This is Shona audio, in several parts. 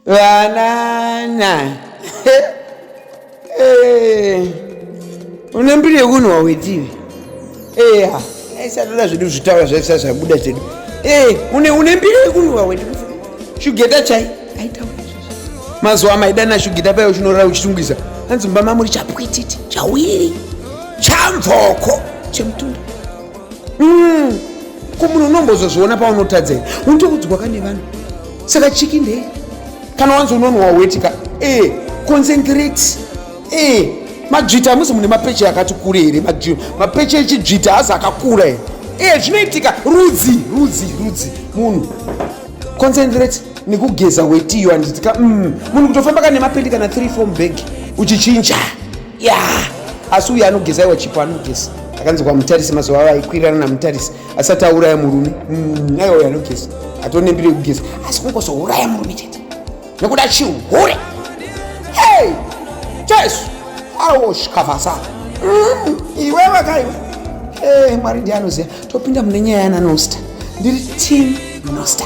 Banana. Eh. Une mbiri yekunwa wetivi. Eh. Aisatoda zvedu zvitaura zvaisa zvabuda zvedu. Eh, une une mbiri yekunwa wetivi. Shugeta chai. Aitaura. Mazuva maidana shugeta payo chinorara uchitungisa. Hanzi mumba mamuri chapwititi, chawiri, chamvoko, chemutunda. mm. ko munhu unombozozviona paunotadzei unotoudzwa ka nevanhu saka chiki ndei kana wanzi unonwa wetika e eh, concentrate e eh, madzvita hamusi mune mapeche akati kure here mapeche echidzvita hazi akakura here e zvinoitika rudzi rudzi rudzi munhu concentrate nekugeza wetiyo anditika mm. munhu kutofamba ka nemapendikana 3 fom bag uchichinja ya asi uyu anogeza iwa chipo anogeza akanzi kwamutarisi mazuva avo aikwirirana namutarisi asati auraya murume mm, aiwa uyu anogeza atonembire kugeza asi kungozouraya murume chete nekuda chihure hey jesu awo shikavasa mm, iwe vakaiwa hey, mwari ndiye anoziva topinda mune nyaya yana nosta ndiri team nosta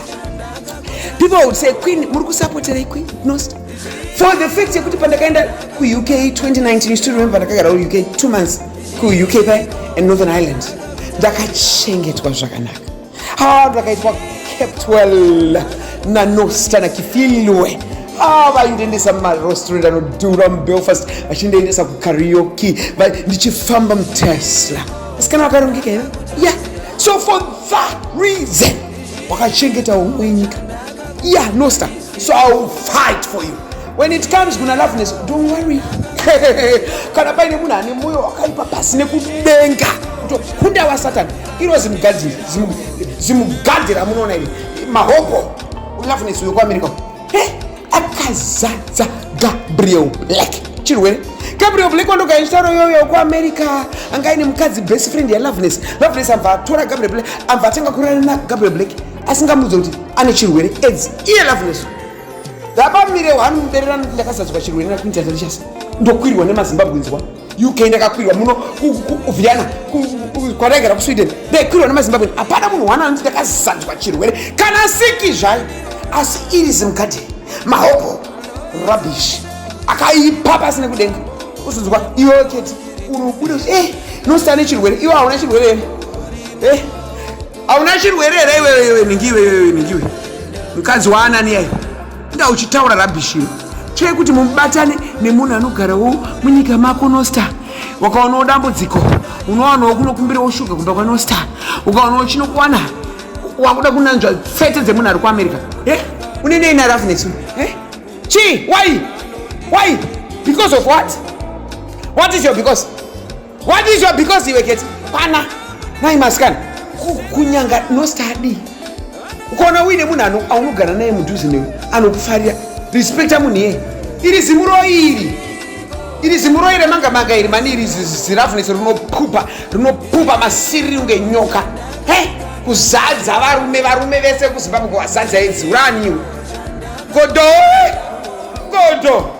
people would say queen muri kusapoterei queen nosta for the fact yekuti pandakaenda kuuk 2019 you still remember ndakagara kuuk two months kuuk paye and northern ireland ndakachengetwa zvakanaka ha ndakaitwa kept well nanosta nakifilwe Ah, vaindiendesa mumarestaurant anodhura mubelfast vachindiendesa kukarioki ndichifamba mutesla asikana vakarongeka ive ya so for that reason wakachengeta umwe nyika ya nosta so i will fight for you when it comes kuna loveness don't worry kana paine munhu ane mwoyo wakaipa pasi nekudenga kutokunda wasatani iro zimugadhi zimugadhi ramunoona iri mahoko loveness uyo kuamerica eh, akazadza gabriel black chirwere gabriel black wandogaichitauro yoyo kuamerica anga aine mukadzi best friend yaloveness loveness amva atora gabriel black amva atanga kurana na gabriel black asingamudze kuti ane chirwere aids iye loveness ndapamire wani muberera noti ndakazadzwa chirwere nakuinternet richasa ndokwirwa nemazimbabwinzwa uk ndakakwirwa muno kuviana kwadaigara kusweden ndaikwirwa nemazimbabwen hapana munhu wani anoti ndakazadzwa chirwere kana siki zvayo asi iri zimgade mahopo rubbish akaipa pasi nekudenga uzonzwa iwe chete unobuda kuti e eh, nosane chirwere iwe hauna chirwere ene e eh, Hauna chirwere here iwewe iwewe nhingi iwewe iwewe nhingi iwewe. Mukadzi waanani yai. Inga uchitaura rubbish iro. Chee kuti mubatane nemunhu anogarawo munyika mako no star. Wakaonawo dambudziko. Unowanawo kunokumbirawo shuga kumba kwa no star. Ukaonawo chinokuwana. Wakuda kunanzva tsete dzemunhu ari kuAmerica. Eh? Une nei na roughness? Eh? Chii? Why? Why? Because of what? What is your because? What is your because iwe keti? Pana. Nai maskana. Kunyanga no study. Ukaona uine munhu ano aunogara naye mudhuze newe anokufarira. Respecta munhu yeye. Iri zimuro iri. Iri zimuro iri manga manga iri mani iri zirafunese rinopupa rinopupa masiriri unge nyoka. He? Kuzadza varume varume vese kuZimbabwe kwazadza idzi. Uraniwe. Godo. Godo.